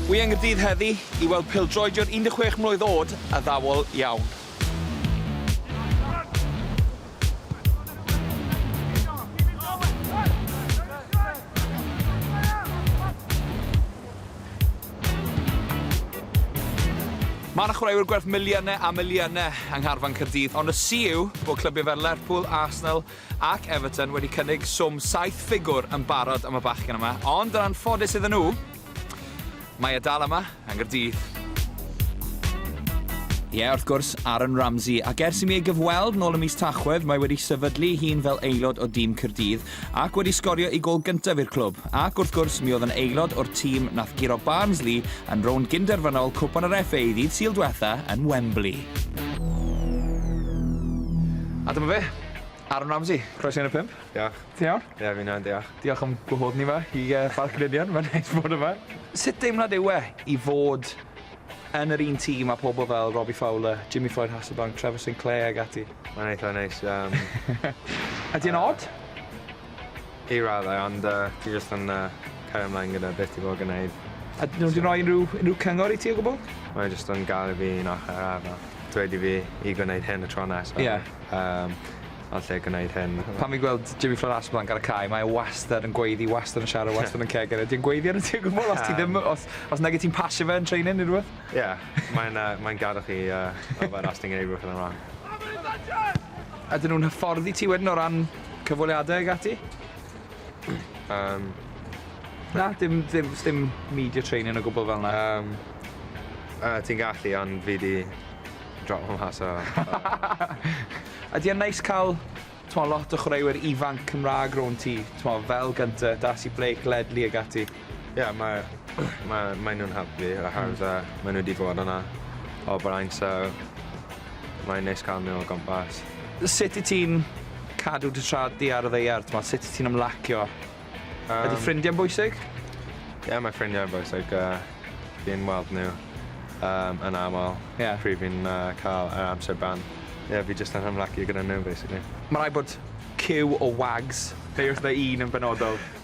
Wy yng Nghaerdydd heddi i weld pêl-droediwr 16 mlwydd oed addawol iawn. Mae yna chwaraewyr gwerth miliynau a miliynau yng ngharfan Caerdydd ond y si yw bod clybiau fel Lerpwl, Arsenal, Ac Everton wedi cynnig swm saith ffigwr yn barod am y bachgen yma, ond yn anffodus iddyn nhw, mae e dal yma yng Nghaerdydd. Ie, wrth gwrs, Aaron Ramsey, ac ers i mi ei gyfweld nôl ym mis Tachwedd, mae wedi sefydlu ei hun fel aelod o dîm Caerdydd ac wedi sgorio ei gol gyntaf i'r clwb. Ac wrth gwrs, mi oedd yn aelod o'r tîm nath guro Barnsley yn rownd gynderfynol Cwpan yr FA ddydd Sul diwetha yn Wembley. A dyma fe, Aaron Ramsey, croeso i Un O'r Pump. Diolch. Ti'n iawn? Ie, fi'n iawn, diolch. Diolch am gwahodd ni 'ma i yy Parc y Ninian, mae'n neis bod yma. Sut deimlad yw e i fod yn yr un tîm â pobol fel Robbie Fowler, Jimmy Floyd Hasselbaink, Trevor Sinclair ag ati? Mae'n eitha neis, yym. Ydi e'n od? I raddau, ond yy dwi jyst yn yy cario mlaen gyda beth dwi fod gneud. A nhw 'di roi unrhyw unrhyw cyngor i ti o gwbwl? Mae jyst yn galw fi un ochor arall, dweud i fi i gwneud hyn y tro nesa. Ie. Yym yn lle gwneud hyn. Pan fi'n gweld Jimmy Floyd Assells lan gan y cae mae e wastad yn gweiddi wastad yn siarad wastad yn ceg ydi e'n gweiddi arnot ti o gwbwl os ti ddim yy os os nage ti'n pasio fe yn training ne' rwbeth? Ie mae'n yy mae'n gadel chi yy yfed os ti'n gneud rwbeth yn y wrong. Ydyn nhw'n hyfforddi ti wedyn o ran cyfweliadau ag ati. um, na, dim, dim, dim media training o gwbl fel yna. Um, uh, ti'n gallu, ond fi di drop o'n mas o... A di o'n neis cael twa, lot o chwaraewyr ifanc Cymraeg ro'n ti, twa, fel gyntaf, Darcy Blake, Ledley ag ati? Ie mae ma' mae nhw'n helpu oherwydd yy mae nhw 'di bod yna o blaen so mae'n neis ca'l nhw o gwmpas. Sut yt ti'n cadw dy tra di ar y ddaear t'mod sut yt ti'n ymlacio? Yym. Ydi ffrindie'n bwysig? Ie mae ffrindiau yn bwysig yy fi'n weld nhw yym yn amal. Ie. Pryd fi'n yy ca'l yr amser bant. Ie fi jyst yn ymlacio gyda nhw basically. Ma' raid bod ciw o wags. Fi wrth fy un yn benodol.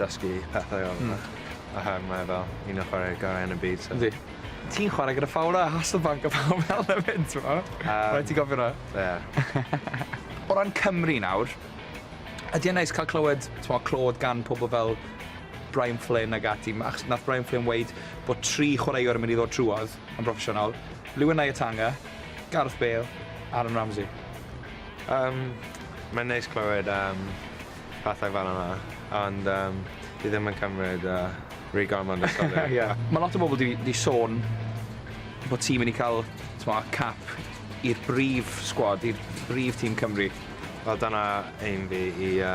dysgu pethau o fe. Hmm. A hefyd mae e fel un o chwaraewyr gorau yn y byd so... Yndi. Ti'n chwarae gyda Fowler a Hasselbaink a pawb fel 'na 'fyd t'mo'? Yym. Rhaid ti gofio 'na. Ie. O ran Cymru nawr, ydi e'n neis ca'l clywed t'mo' clod gan pobol fel Brian Flynn ag ati ma' achos nath Brian Flynn weud bod tri chwaraewr yn mynd i ddod trwodd yn broffesiynol. Lewin Nyatanga, Gareth Bale, Aaron Ramsey. Yym, mae'n neis clywed am pethau fel yna, ond yym fi ddim yn cymryd yy rhy gormod o sylw. Ie. Ma' lot o bobl 'di 'di sôn bo' ti myn' i ca'l t'mo' cap i'r brif sgwad i'r brif tîm Cymru. Wel dyna aim fi i yy